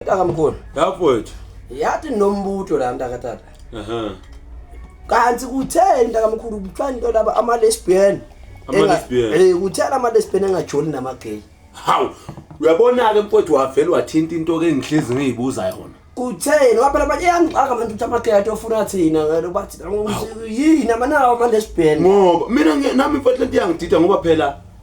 Ntakamkhulu. Yafowethu. Yathi nombutho la ntakatata. Aha. Kanti kutheni ntakamkhulu kuthiwa into laba ama lesbian. Ama lesbian. Eh kuthela ama lesbian engajoli nama gay. Hawu. Uyabona ke mfowethu wavela wathinta into ke ngihlizi ngiyibuza yona. Kutheni waphela manje yangixaka manje ukuthi ama gay atofuna thina ngalo bathi yini amanawo ama lesbian. Ngoba mina nami mfowethu lento yangidida ngoba phela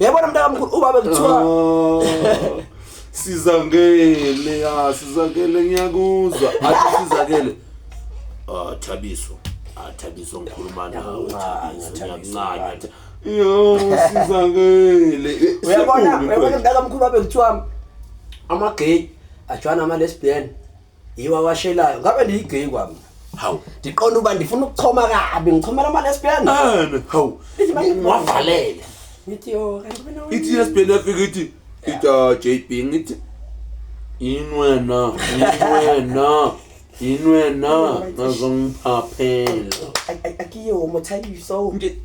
Uyabona mntakamkhulu ubaba kuthiwa Oh. sizakele ya sizakele ngiyakuzwa athi sizakele ah thabiso ah thabiso ngikhuluma nawe Ngiyakuncanya, thabiso Thabiso, ngiyakuncanya right. yo sizakele Eh, uyabona siyabonga uyabona impela. mntakamkhulu babe kuthiwa ama-gay ajwana ama-lesbian Yiwa washelayo ngabe ndiyi gay kwami. Hawu. Ndiqonda uba ndifuna ukuchoma kabi ngichomela ama lesbian. Ah, hawu. Wavalele. Ngithi yo kanti wena. Ithi lesbian yafika ithi ithi ah, JB ngithi yini wena yini wena yini wena ngazongiphaphela akiyo mothayiso nje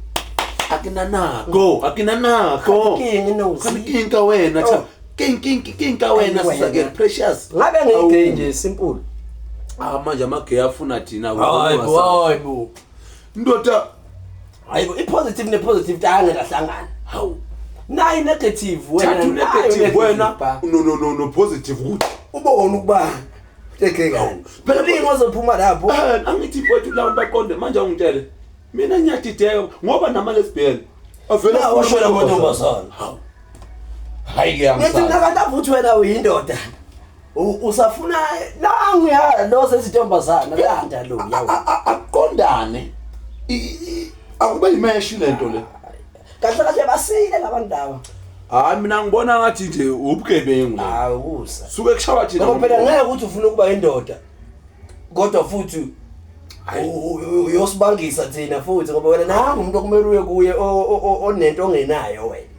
akinanako akinanako akinenkinga wena cha king king king ka wena sisa ke precious ngabe ngeke nje simple ah manje ama gay afuna thina hayibo ndoda hayibo i positive ne positive tanga lahlangana hawu nayi negative wena thathu negative wena no no no no positive ukuthi uba wona ukuba tekekani phela lingo zophuma lapho eh, angithi mfowethu lawo baqonde manje awungitshele mina ngiyadideka ngoba nama lesbian Avela Nawe futhi shwela amantombazane. amantombazane. Hawu. Hayi ke Ngithi mina kanti avuthi wena uyindoda. U- Usafuna nangu ya lo sezintombazana landa lo yawo. Akuqondane. I- i- Akube yimeshi lento le. Kahle kahle basile labantu laba. Hayi mina ngibona ngathi nje ubugebengu la. Hawu usa. Suke kushawa thina. Ngoba phela ngeke ukuthi ufuna ukuba indoda. kodwa futhi uyosibangisa thina futhi ngoba wena nangu umuntu okumele uye kuye onento ongenayo wena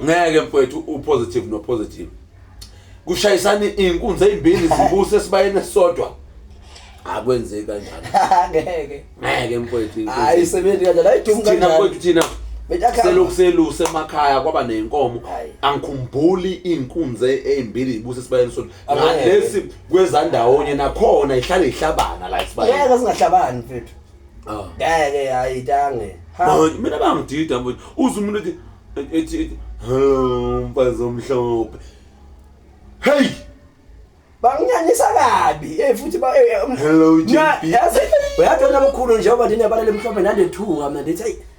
ngeke mfowethu upositive nopositive kushayisana iy'nkunzi ey'mbili zibuse esibayeni esisodwa akwenzeki kanjani ngeke ngeke mfowethu hayi isebenzi kanjani ayidumu kanjani thina mfowethu thina selokhu seluse emakhaya kwaba ney'nkomo angikhumbuli iy'nkunzi ey'mbili zibuse esibayeni esisodwa ngalesi kwezandawonye nakhona ihlale ihlabana la isibani ngeke singahlabani mfethu ah. ngeke hayi tange mina bangidida mfethu uze umuntu ethi ethi hello mfazi omhlophe hey banginyanyisa kabi eh futhi ba eh, eh, um, hello JP yazi uyathola mkhulu njengoba ndine balele mhlophe nande thuka mina ndithi hey